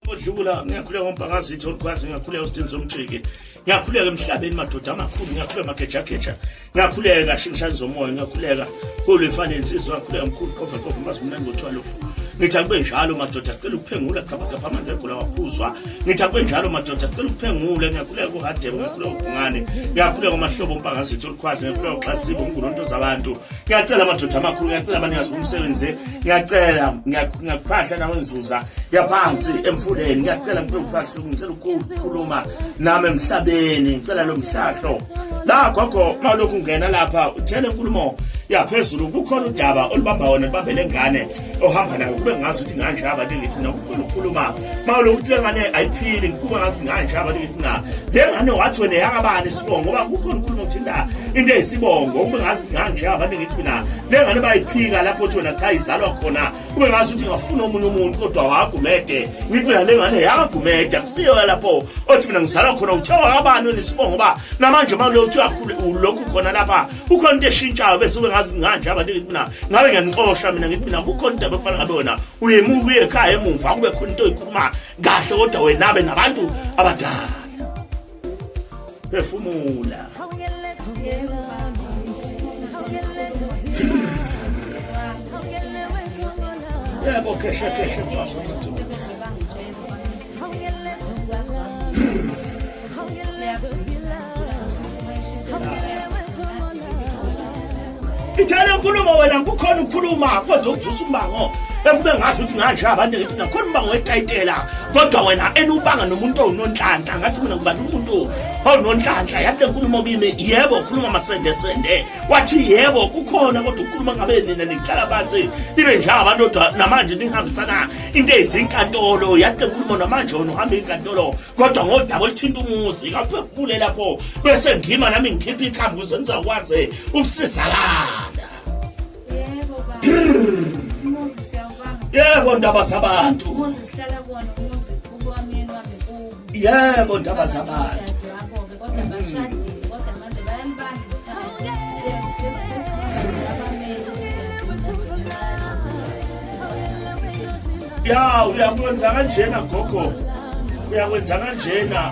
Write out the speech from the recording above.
Odlula ngiyakhuleka ngompangazitha olukwazi ngiyakhuleka uSthinzi Somjiki ngiyakhuleka emhlabeni madoda amakhulu ngiyakhuleka magejageja ngiyakhuleka shingishani zomoya ngiyakhuleka kulu ifane insizwa ngiyakhuleka mkhulu qova qova mazi mnandi ngotshwalofu ngithi akube njalo madoda sicela ukuphengula gabagaba amanzi egula waphuzwa ngithi akube njalo madoda sicela ukuphengula ngiyakhuleka kuhadebe ngiyakhuleka ubhungane ngiyakhuleka umahlobo umpangazitha olukwazi ngiyakhuleka uxasibo umngunontoz'abantu ngiyacela amadoda amakhulu ngiyacela abanikazi bomsebenzi ngiyacela ngiyakuphahla nawe nzuza yaphansi emfuleni ngiyacela ngicela ukuphahla ngicela ukukhuluma nami emhlabeni ngicela lo mhlahlo la gogo malokhu ungena lapha uthele inkulumo yaphezulu kukhona udaba olubamba wona libambele ngane ohamba nayo kube ngazi ukuthi nganje abantu ngithi mina kukhulu ukukhuluma mawule ukuthi le ngane ayiphili kube ngazi nganje abantu ngithi na le ngane wathi wena yakabani isibongo ngoba kukhona ukukhuluma ukuthi la into eyisibongo kube ngazi nganje abantu ngithi mina le ngane bayiphika lapho ukuthi wena cha izalwa khona kube ngazi ukuthi ngafuna omunye umuntu kodwa wagumede ngithi mina le ngane yakagumede akusiyo lapho othi mina ngizalwa khona uthe wakabani wena isibongo ngoba namanje mawule uthi uyakhulu lokhu khona lapha kukhona into eshintshayo bese ube ngazi nganje abantu ngithi mina ngabe ngiyanixosha mina ngithi mina kukhona into abafana ngabe wena uyemuka uye ekhaya emuva kube khona into oyikhuluma kahle kodwa wena abe nabantu abadala phefumula yebo kheshe kheshe mfaso ithela nkulumo wena kukhona ukukhuluma kodwa ukuvusa umbango ekube ngazi ukuthi nganje abantu ngithi nakhona umbango wetayitela kodwa wena enubanga nomuntu owunonhlanhla ngathi mina ngubani umuntu owunonhlanhla yathi nkulumo kimi yebo ukhuluma masende sende wathi yebo kukhona kodwa ukukhuluma ngabe nina nihlala phansi nibe njengabantu kodwa namanje nihambisana into ezinkantolo yathi nkulumo namanje wona uhamba inkantolo kodwa ngodaba oluthinta umuzi kaphefumule lapho bese ngima nami ngikhipha ikhambi ukuze ngizakwazi ukusizakala yebo baba yebo ndaba zabantu umuzi sihlala kuwona umuzi ukwamyeni wami kubo yebo ndaba zabantu kodwa bashadile kodwa manje bayambanga ya uyakwenza kanjena gogo uyakwenza kanjena